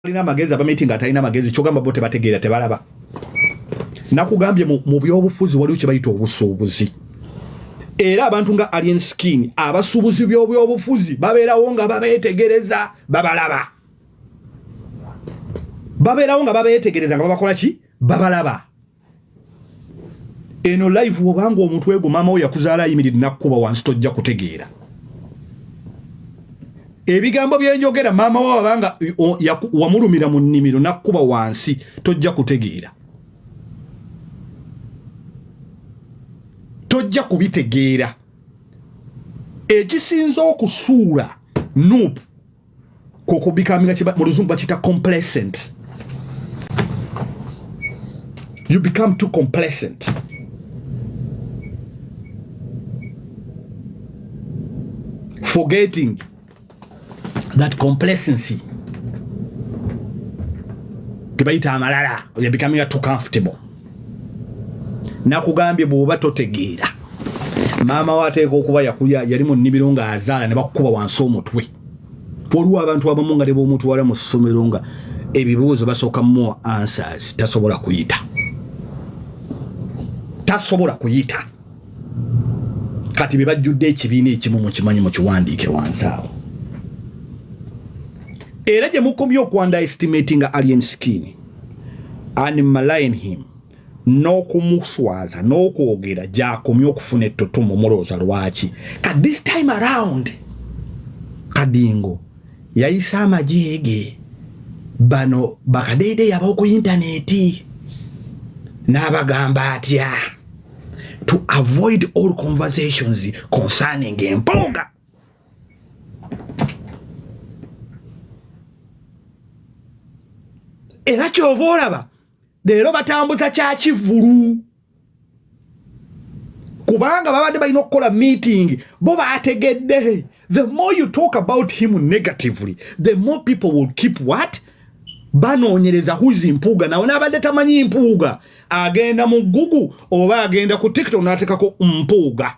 alina amagezi abamiti nga atalina amagezi kyogamba bo tebategeera tebalaba nakugambye mu byobufuzi waliwo kyebayita obusuubuzi era abantu nga alien skin abasuubuzi byobyobufuzi babeerawo nga babeetegereza babalaba babeerawo nga babeetegereza nga babakola ki babalaba eno live wobanga omuntu ego mama wo yakuzaala ayimiridde nakukuba wansi tojja kutegeera ebigambo byenjogera mama wo abanga wamulumira mu nnimiro nakukuba wansi tojja kutegeera tojja kubitegeera ekisinza okusuula nup kwokubikaminga mu luzungu bakiyita complacent you become too complacent forgetting that complacency tebayita amalala you're becoming too comfortable nakugambye bwoba totegeera maama wo ateeka okuba yakuya yali mu nnimiro ng'azaala ne bakukuba wansi omutwe waliwo abantu abamu nga nebwomutwala mu ssomero nga ebibuuzo basooka more answers tasobola kuyita tasobola kuyita kati bebajjudde ekibiina ekimu mukimanyi mukiwandiike wansi awo era gye mukomye okwandaestimati nga alien skin and maline him n'okumuswaza n'okwogera gyakomye okufuna ettotomu mulowooza lwaki ka this time around kadingo yayise amajeege bano bakadeede yabawo ku intaneti n'abagamba atya to avoid all conversations concerning empuuga era kyova olaba leero batambuza kyakivulu kubanga babadde balina okukola meeting bo bategedde the more you talk about him negatively the more people will keep what banoonyereza huzi mpuuga nawe naabadde tamanyi mpuuga agenda mu gugu oba agenda ku tiktok n'atekako mpuuga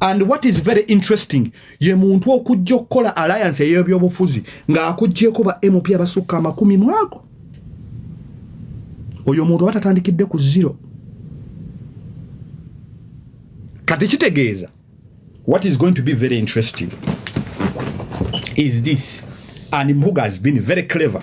and what is very interesting ye muntu okujja okukola alliance eyebyobufuzi ng'akugyeko ba mp abasukka amakumi mwago oyo omuntu oba tatandikidde ku zero kati kitegeeza what is going to be very interesting is this and mpuga has been very clever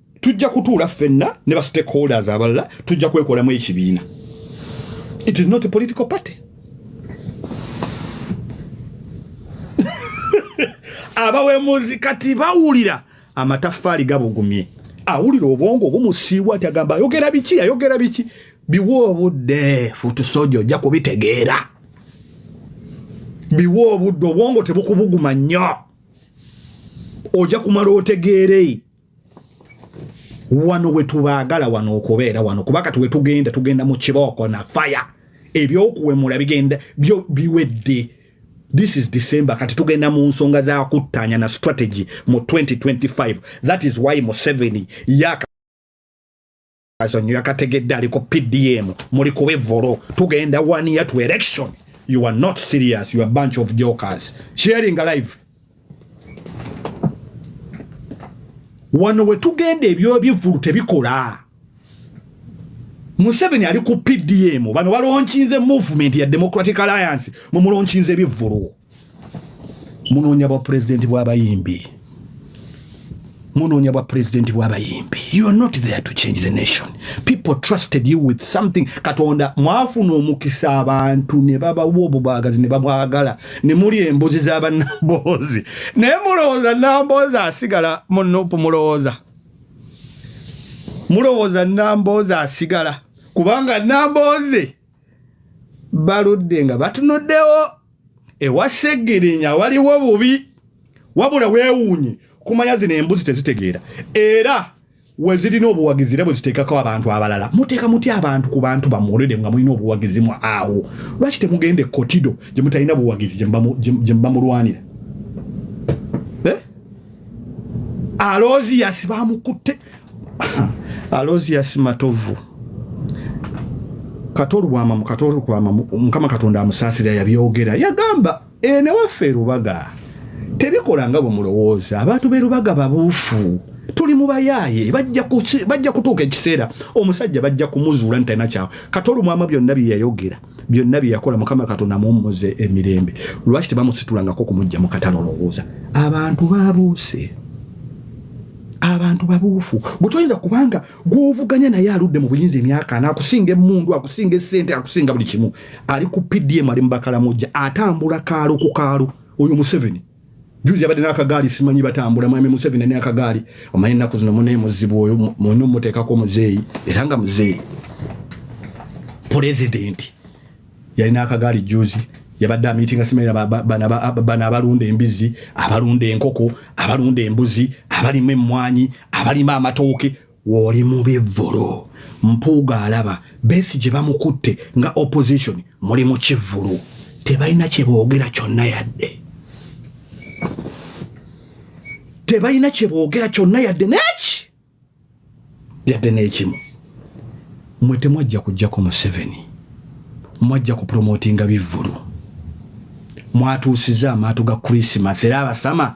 tujja kutuula ffenna ne ba stakeholders abalala tujja kwekolamu ekibiina it is not a political party abawemuzi kati bawulira amataffaali gabugumye awulira obwongo obumusiibwa ti agamba ayogera biki ayogera biki biwa obudde futusoja ojja kubitegeera biwa obudde obwongo tebukubuguma nnyo ojja kumala otegeerei wano wetubaagala wano okubeera wano kuba kati wetugenda tugenda mu kibooko na faya ebyokuwemula bigenda byo biwedde this is december kati tugenda mu nsonga za kuttaanya na strategy mu 2025 that is why museveni yaka azonyo yakategedde ali ku pdm muli kuba evolo tugenda one year to election you are not serious you are bunch of jokers sharing live wano wetugenda ebyobivulu tebikola museveni ali ku pdm bano balonkinze movement ya democratic alliance mumulonkinze ebivulu munoonya bwa pulezidenti bw'abayimbi munoonya bwa pulezidenti bw'abayimbi you are not there to change the nation people trusted you with something katonda mwafuna omukisa abantu ne babawa obubagazi ne babwagala ne muli embuzi z'abannamboozi naye mulowooza namboozi asigala munupu mulowooza mulowooza namboozi asigala kubanga namboozi baludde nga batunuddewo ewa segirinya waliwo bubi wabula wewuunye kumanya zino embuzi tezitegeera era wezirina obuwagizi era bweziteekako abantu abalala muteeka mutya abantu ku bantu bamwolede nga mulina obuwagizi mu awo lwaki temugenda ekotido gye mutalina buwagizi gye mubamulwanira Alozias bamukutte Alozias Matovu katolwama mukatolwama mukama katonda amusaasira yabyogera yagamba ene waffe rubaga tebikola nga bwe mulowooza abantu be rubaga babuufu tuli mu bayaaye bajja kutuuka ekiseera omusajja bajja kumuzuula nti talina kyawe katolumwama byonna bye yayogera byonna bye yakola mukama katonda amuwummuze emirembe lwaki tebamusitulangako kumujja mu katale olowooza abantu babuuse abantu babuufu gwe toyinza kubanga gwovuganya naye aludde mu buyinza emyaka naakusinga emundu akusinga esente akusinga buli kimu ali ku pdm ali mubakalamuja atambula kaalo ku kaalo oyo museveni Juzi yabadde n'akagaali simanyi batambula mwami Museveni ne akagaali omanyi ennaku zino munaye muzibu oyo mwena omuteekako muzeeyi era nga muzeeyi pulezidenti yalina akagaali juzi yabadde amitinga simanyi bana abalunda embizzi abalunda enkoko abalunda embuzi abalima emmwanyi abalima amatooke Woli mu bivvulu. Mpuuga alaba Besigye bamukutte nga opposition muli mu kivvulu. Tebalina kye boogera kyonna yadde. Tebalina kye boogera kyonna yadde n'eki yadde n'ekimu. Mwe temwajja kujjako Museveni. Mwajja ku promotinga bivvulu. Mwatuusizza amaato ga Christmas era abasama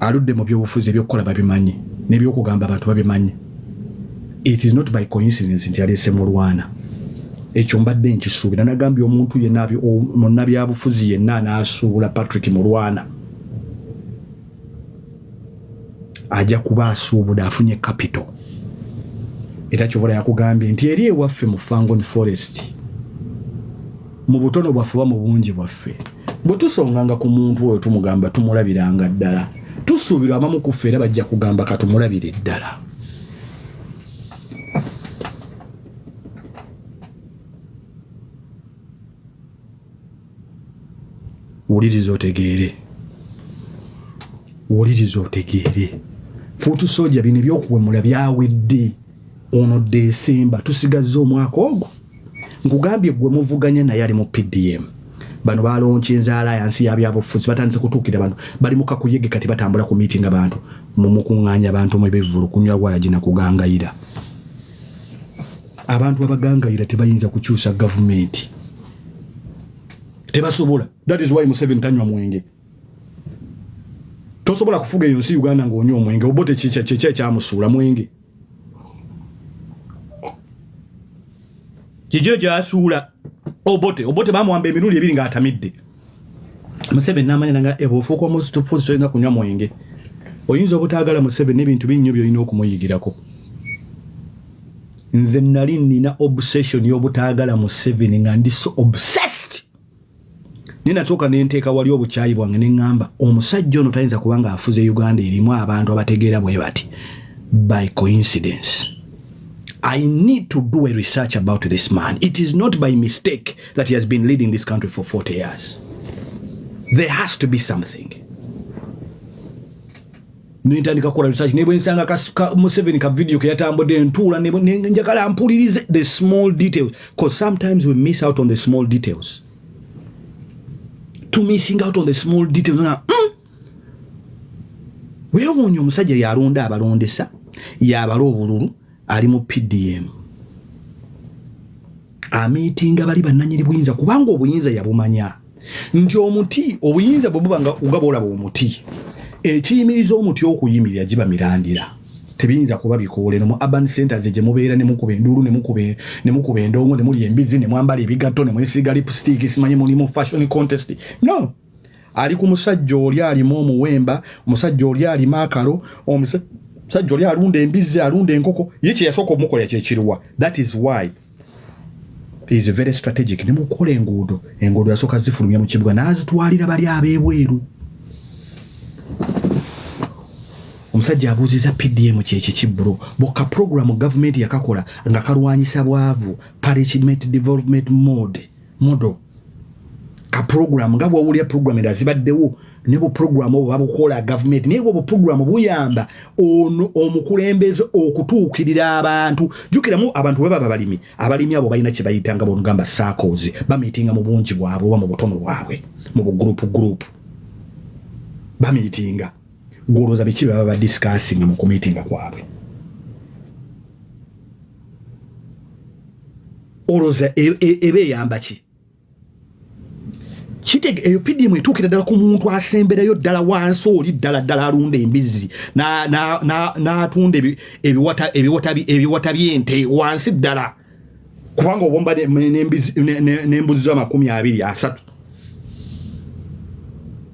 aludde mu byobufuzi ebyokukola babimanyi nebyokugamba abantu babimanyi it is not by coincidence nti yaleese mulwana ekyo mbadde nkisuubira nagambye omuntu yenna munnabyabufuzi yenna anaasuubula patrick mulwana ajja kuba asuubude afunye capital era kyobola yakugambye nti eri ewaffe mu fangon forest mu butono bwaffe oba mu bungi bwaffe bwe tusonganga ku muntu oyo tumugamba tumulabiranga ddala tusuubirwa abamu kuffe era bajja kugamba katumulabire ddala wuliriza otegeere wuliriza otegeere fuutu soja bino ebyokuwemula byawedde ono desemba tusigazza omwaka ogwo nkugambye gwe muvuganya naye ali mu PDM bano balonca enzaala yansi yabyabufuzi batandise kutuukira bantu bali mukakuyege kati batambula ku miitinga bantu mumukuŋŋaanya bantu mu ebivvulu kunywa walagi na kugangayira abantu abagangayira tebayinza kukyusa gavumenti tebasobola that is why museveni tanywa mwenge tosobola kufuga eyo nsi uganda ng'onywa omwenge obote kyekyamusuula mwenge Gigio gyasuula Obote. Obote bamuwamba emirundi ebiri ng'atamidde. Museveni n'amanya nanga ebo eh, ofuuka omusitufuzi tolina kunywa mwenge. Oyinza obutaagala Museveni n'ebintu binnyo by'olina okumuyigirako. Nze nali nina obsession y'obutaagala Museveni nga ndi so obsessed. naye natuuka ne nteeka wali obukyayi bwange ne ŋŋamba omusajja ono tayinza kuba ng'afuze uganda erimu abantu abategeera bwe bati by coincidence i need to do a research about this man it is not by mistake that he has been leading this country for 40 years there has to be something nentandika kukola research nebwensanga ka, ka museveni ka video keyatambudde ntuula njagala mpulirize the small details bcause sometimes we miss out on the small details to missing out on the small details nga mm, wewuunya omusajja yalonda abalondesa yabala obululu ali mu PDM amiitinga bali bannanyini buyinza kubanga obuyinza yabumanya nti omuti obuyinza bwe buba nga ugaba olaba omuti ekiyimiriza omuti okuyimirira giba mirandira tebiyinza kuba bikoola eno mu urban centers gye mubeera ne mukuba enduulu ne mukuba endongo ne mulya embizzi ne mwambala ebigatto ne mwesiiga lipstick simanyi mulimu fashion contest no ali ku musajja oli alimu omuwemba omusajja oli alima akalo omusajja oli alunda embizzi alunda enkoko ye kyeyasooka omukola kyekiruwa that is why is very strategic ne mukola enguudo enguudo yasooka zifulumya mu kibuga n'azitwalira bali ab'ebweru omusajja abuuziza pdm kyekiki bro boka programu gavumenti yakakola nga kalwanyisa bwavu parliament development mode model ka program nga bwowulira program enda zibaddewo ne bu program obwo babukola government naye bwo program buyamba ono omukulembeze okutuukirira abantu jukiramu abantu bwe baba balimi abalimi abo balina kye bayita nga bonugamba sakozi bamitinga mu bungi bwabwe oba mu butono bwabwe mu bugrupu grupu bamitinga gwolowooza biki baba ba discussing mu kumitinga kwabwe olowooza e, e, eba eyamba ki kitege eyo pdm etuukira ddala ku muntu asemberayo ddala wansi oli ddala ddala alunda embizzi n'atunda ebiwata by'ente wansi ddala kubanga obomba n'embuzi z'amakumi abiri asatu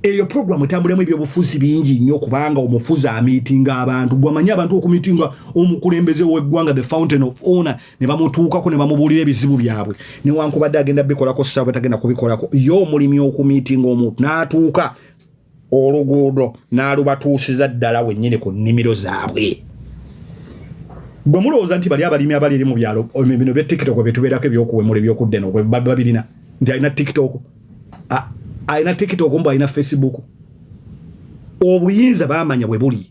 eyo program etambulemu ebyobufuzi bingi nnyo kubanga omufuzi amitinga abantu gwamanyi abantu okumitinga omukulembeze weggwanga the fountain of honor ne bamutuukako ne bamubuulira ebizibu byabwe newankubadde agenda bikolako saba tagenda kubikolako ye omulimi okumitinga omuntu n'atuuka oluguudo n'alubatuusiza ddala wennyini ku nnimiro zaabwe bwe mulowooza nti bali abalimi abali eri mu byalo bino bya tiktok bye tubeerako ebyokuwemula ebyokudda eno babirina nti alina tiktok alina tiktok mbu alina facebook obuyinza bamanya bwe buli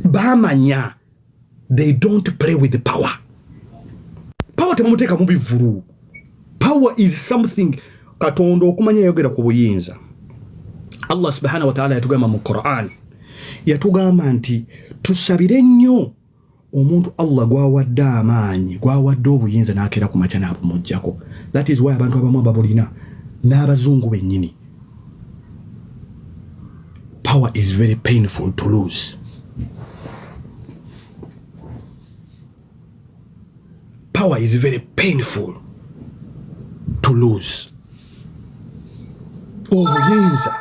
bamanya they don't play with the power power temumuteeka mu bivulu power is something katonda okumanya yayogera ku buyinza allah subhanahu wataala yatugamba mu quran yatugamba nti tusabire nnyo omuntu allah gwawadde amaanyi gwawadde obuyinza n'akeera ku makya n'abumugjako that is why abantu abamu ababulina n'abazungu bennyini power is very painful to lose power is very painful to lose obuyinza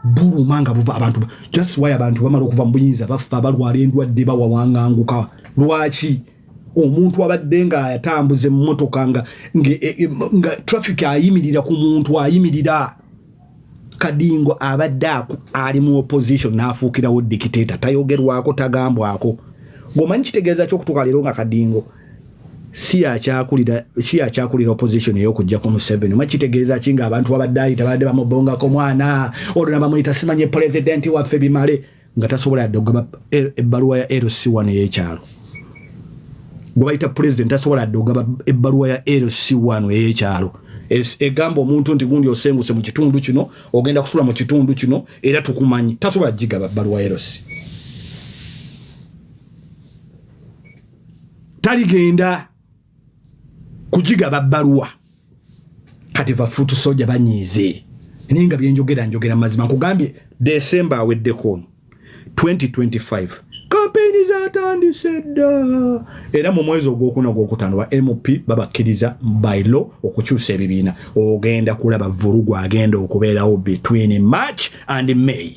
buluma nga buva abantu just why abantu bamala okuva mu buyinza bafa balwala endwadde bawawanganguka lwaki omuntu abadde nga atambuza emmotoka nga, nga, e, e, nga traffic ayimirira ku muntu ayimirira kadingo abadde ali mu opposition n'afuukirawo dikiteeta tayogerwako tagambwako gwomanyi kitegeeza kyokutuuka leero nga kadingo si yakyakulira opposition eyokujjako museveni omanyi kitegeeza ki nga abantu abadde ayita badde bamubongako mwana olwo nabamuyita simanye pulezidenti waffe bimale nga tasobola yadde okugaba e, ebbaluwa ya lc one eyekyalo gwebayita pulezidenti tasobola yadde okugaba ebbaluwa ya lc one eyekyalo egamba omuntu nti gundi osenguse mu kitundu kino ogenda kusula mu kitundu kino era tukumanyi tasobola gigaba bbaluwa ya lc taligenda kugigaba bbaluwa kati vafuutu soja banyiize naye nga byenjogera njogera mazima nkugambye desemba aweddeko ono 2025 kampeyini zatandise dda era mu mwezi ogwokuna ogwokutaano ba mp babakkiriza by law okukyusa ebibiina ogenda kulaba vulugu agenda okubeerawo between march and may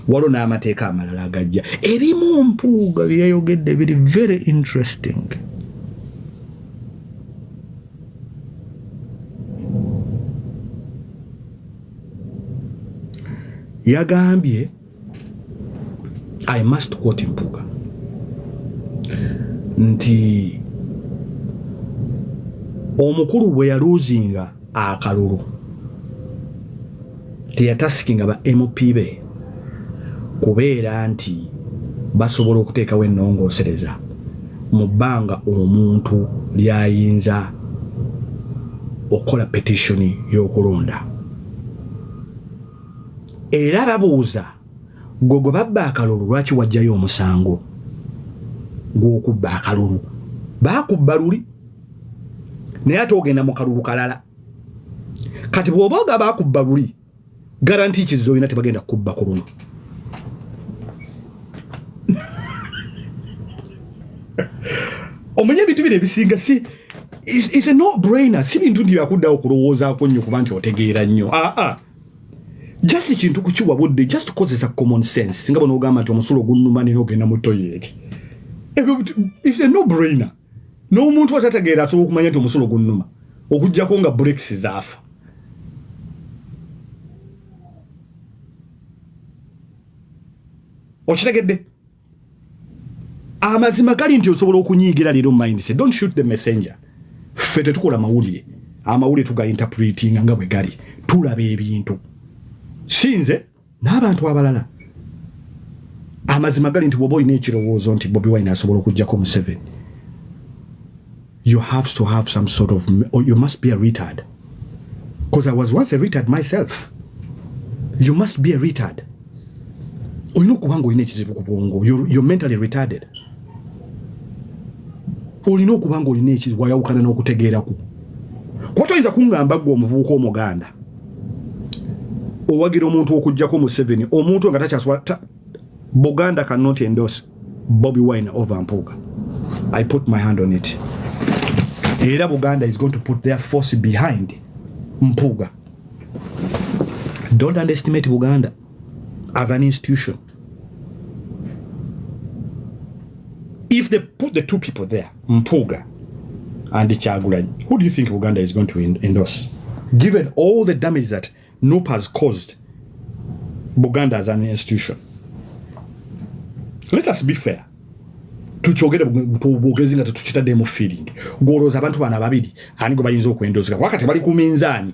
waliwo n'amateeka amalala agajja ebimu mpuuga byeyayogedde biri very interesting yagambye i must quote mpuga nti omukulu bwe yaluuzinga akalulu teyatasikinga ba MP be kubeera nti basobola okuteekawo ennongoosereza mu bbanga omuntu lyayinza okukola petitioni y'okulonda era babuuza gwe gwe babba akalulu lwaki wajjayo omusango gw'okubba akalulu baakubba luli naye ate ogenda mu kalulu kalala kati bw'oba oga bakubba luli garanti kizo olina tebagenda kukubba ku luno omanya ebintu bino ebisinga si is a no brainer si bintu nti byakuddawo okulowoozaako nnyo kuba nti otegeera nnyo aa ah, ah. just ekintu kukiwa budde just kozesa common sense nga bona ogamba nti omusulo ogunnuma nina ogenda mu toyeti ebyo is a no brainer n'omuntu atategeera asobola okumanya nti omusulo gunnuma okujjako nga burekisi zaafa okitegedde amazima gali nti osobola okunyiigira leero mindset don't shoot the messenger ffe tetukola mawulire amawulire tuga interpretinga nga bwe gali tulaba ebintu sinze n'abantu abalala amazima gali nti woba olina ekirowoozo nti bobi wine asobola okujjako museven you have to have some sort of or you must be a retard because i was once a retard myself you must be a retard olina okuba nga olina ekizibu ku bwongo you're mentally retarded olina okuba nga olina ekizibu wayawukana n'okutegeeraku kuba toyinza kuŋŋamba gwe omuvubuka omuganda owagira omuntu okujjako museveni omuntu nga takyasobola ta, buganda cannot endorse bobi wine over mpuuga i put my hand on it era buganda is going to put their force behind mpuuga don't underestimate buganda as an institution. If they put the two people there, Mpuga and Chagulanyi, who do you think Buganda is going to endorse? Given all the damage that NUP has caused Buganda as an institution. Let us be fair. tukyogere bwogezi nga tetukitadde mu feeling gwolowooza abantu bana babiri ani gwe bayinza okwendozeka wakati bali ku minzaani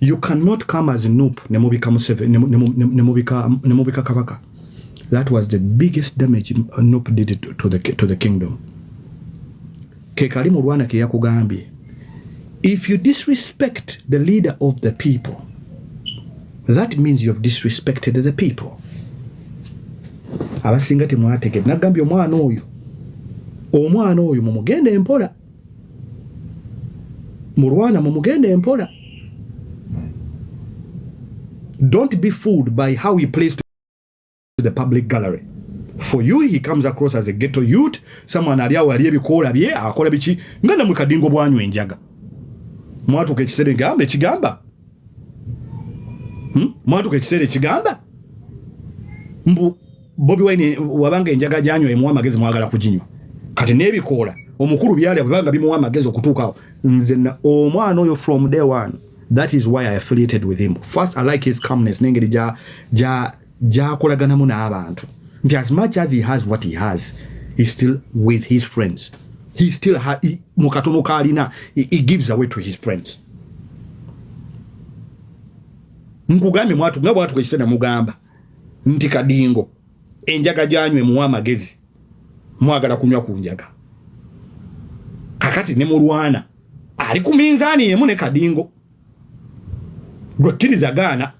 you cannot come as nup ne mubika museve ne ne mubika ne mubika kabaka that was the biggest damage nup did it to the to the kingdom ke kali mu rwanda ke yakugambye if you disrespect the leader of the people that means you have disrespected the people abasinga temwategede nagambye omwana oyo omwana oyo mumugende mpola mulwana mumugenda empola don't be fooled by how he plays to the public gallery for you he comes across as a ghetto youth someone ali awo ali ebikoola bye akola biki nga namwe kadingo bwanywa enjaga mwatuka ekiseera egamba ekigamba hmm? mwatuka ekiseera ekigamba mbu Bobi Wine wabanga enjaga gyanywa emuwa amagezi mwagala kuginywa kati n'ebikoola omukulu byalya bwebanga bimuwa amagezi okutuukawo nze omwana oyo from day one that is why i affiliated with him first i like his calmness n'engeri gyakolaganamu n'abantu nti as much as he has what he has he still with his friends he still mu katono kaalina he gives away to his friends nkugambye mwatu nga bwatuka ekisena mugamba nti kadingo enjaga gyanywa emuwa amagezi mwagala kunywa ku njaga kakati ne mulwana ali ku minzaani yemu ne kadingo gwekkiriza gaana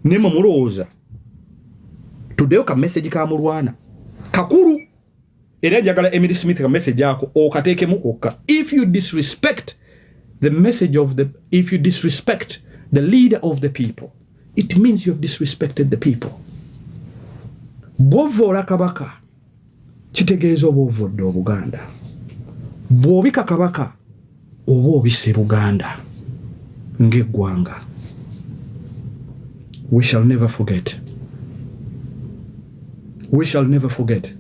naye mwe mulowooza tuddeyo ka message ka mulwana kakulu era njagala Emily Smith ka message ako okateekemu kokka if you disrespect the message of the if you disrespect the leader of the people it means you have disrespected the people bwovoola kabaka kitegeeza oba ovodde obuganda bwobika kabaka oba obise buganda ng'eggwanga we shall never forget we shall never forget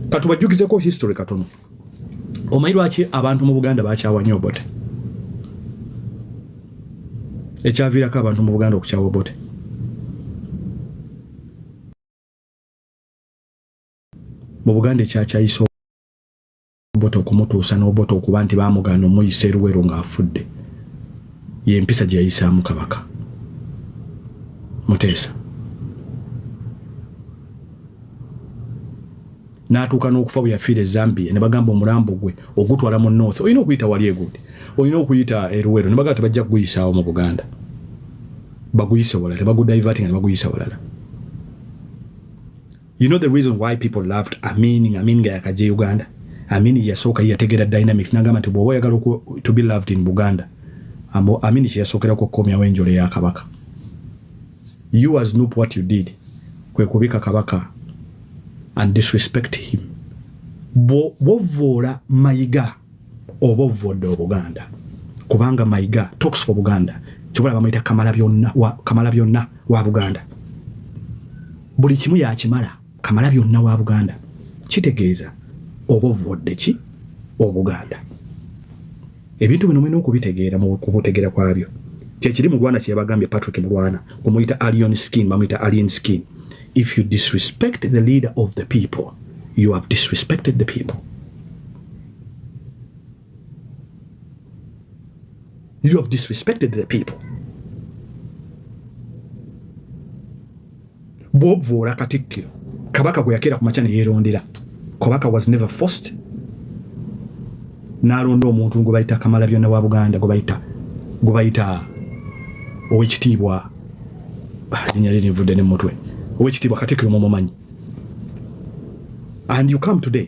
katubajjukizeko history katono omanyi lwaki abantu mu buganda bakyawa nyo obote ekyaviirako abantu mu buganda okukyawa obote mu buganda ekyakyayisa Obote okumutuusa n'Obote okuba nti baamugaana omuyisa e Luweero ng'afudde y'empisa gye yayisaamu Kabaka Muteesa n'atuuka n'okufa bwe yafiira e Zambia ne bagamba omulambo gwe ogutwala mu North olina okuyita wali egundi olina okuyita e Luweero ne bagamba tebajja kuguyisaawo mu Buganda baguyise walala tebagudayivatinga ne baguyisa walala You know the reason why people loved Amin, Amin nga yakaje Uganda. Amin yasooka yategera dynamics nagamba nti bwoba oyagala to be loved in Buganda. Ambo Amin kye yasookera ku komya wenjole ya kabaka. You as Nup what you did kwe kubika kabaka and disrespect him. Bwo bovora mayiga. oba ovodde obuganda kubanga mayiga talks for buganda kyobola bamuyita kamala byonna wa, kamala byonna wa buganda buli kimu yakimala kamala byonna wa buganda kitegeeza oba ovodde ki obuganda ebintu bino mulina okubitegeera kubutegeera kwabyo kyekiri mulwana kyeyabagambye patrick mulwana omuyita alien skin bamuyita alien skin if you disrespect the leader of the people you have disrespected the people You have disrespected the people. bwobvoola katikkiro kabaka gwe yakeera ku makya ne yeerondera kabaka was never forced n'alonda omuntu gwe bayita kamala byonna wa buganda gwe bayita gwe bayita owekitiibwa ah, linya liri nvudde ne mutwe owekitiibwa katikkiro mumumanyi and you come today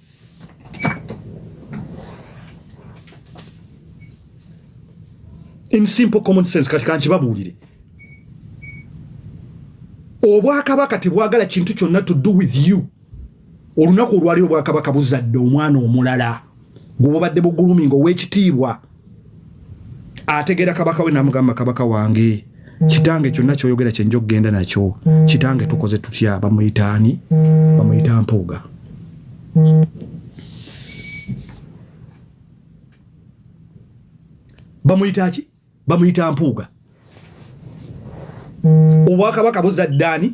in simple common sense kati kankibabuulire obwakabaka tebwagala kintu kyonna to do with you olunaku olwali obwakabaka buzadde omwana omulala gwobubadde buguluminga owekitiibwa ategeera kabaka we namugamba kabaka wange kitange kyonna kyoyogera kyenja okugenda nakyo kitange tukoze tutya bamuyitaani bamuyita mpuuga bamuyita ki bamuyita mpuuga obwakabaka buzaddaani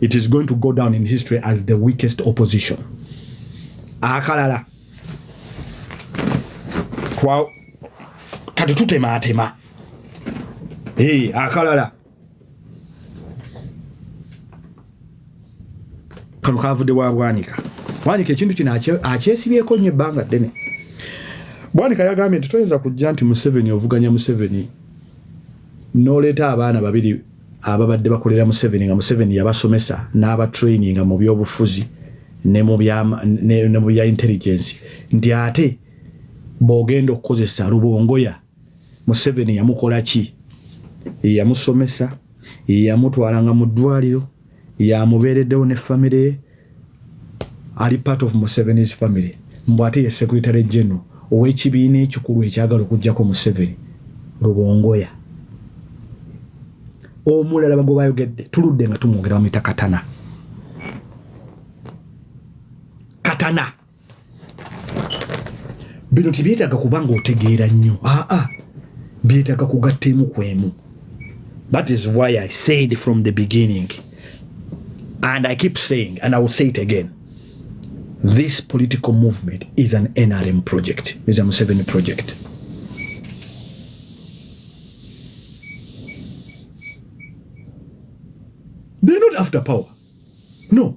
it is going to go down in history as the weakest opposition akalala kwa kati tutemaatema hey, akalala kano kavudde wa bwanika bwanika ekintu kino akyesibyeko nyo ebbanga ddene bwanika yagambye nti toyinza kujja nti museveni ovuganya museveni noleeta abaana babiri ababadde bakolera Museveni nga Museveni yabasomesa n'abatraininga mu byobufuzi ne mu bya intelligence nti ate bw'ogenda okukozesa Rubongoya Museveni yamukola ki yamusomesa yamutwalanga mu ddwaliro yamubeereddewo ne famire ye ali part of Museveni's family mbu ate ye secretary general ow'ekibiina ekikulu ekyagala okujjako Museveni Rubongoya omulala bagwe bayogedde tuludde nga tumwogera bamuyita katana katana bino tebyetaaga kuba nga otegeera nnyo aa ah, ah. byetaaga kugatta emu ku emu that is why i said from the beginning and i keep saying and i will say it again this political movement is an nrm project is a museveni project they're not after power no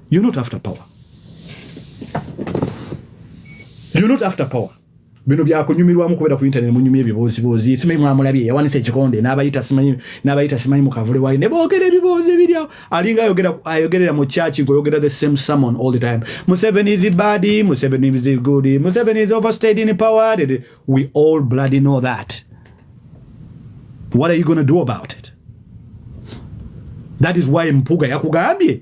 You're not after power. You're not after power. Bino bya kunyumirwamu kubera ku internet munyumye ebibozi bozi simanyi mwamulabye yawanise ekikonde n'abayita simanyi n'abayita simanyi mukavule wali ne boogera ebibozi ebiri awo alinga ayogera ayogerera mu church ng'oyogera the same sermon all the time Museven is bad Museven is good Museven is overstayed in power we all bloody know that what are you going to do about it that is why mpuga yakugambye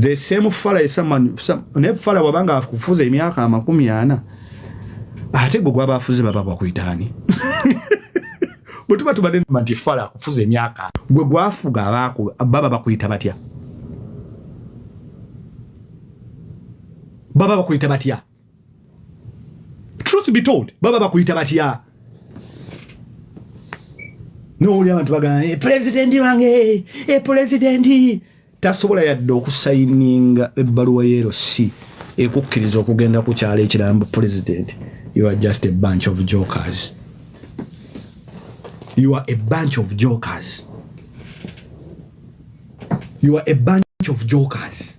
the same fala esaman ne fala wabanga akufuza emyaka amakumi ana ate gwe gwaba afuze baba bakuyitaani bwe tuba tubadde nti fala akufuza emyaka gwe gwafuga abaku baba bakuyita batya baba bakuyita batya truth be told baba bakuyita batya nowuli abantu bagamba eh, pulezidenti wange e eh, pulezidenti tasobola yadde okusayininga ebbaluwa ya lc ekukkiriza okugenda ku kyalo ekirala mbu pulezidenti you are just a bunch of jokers you are a bunch of jokers you are a bunch of jokers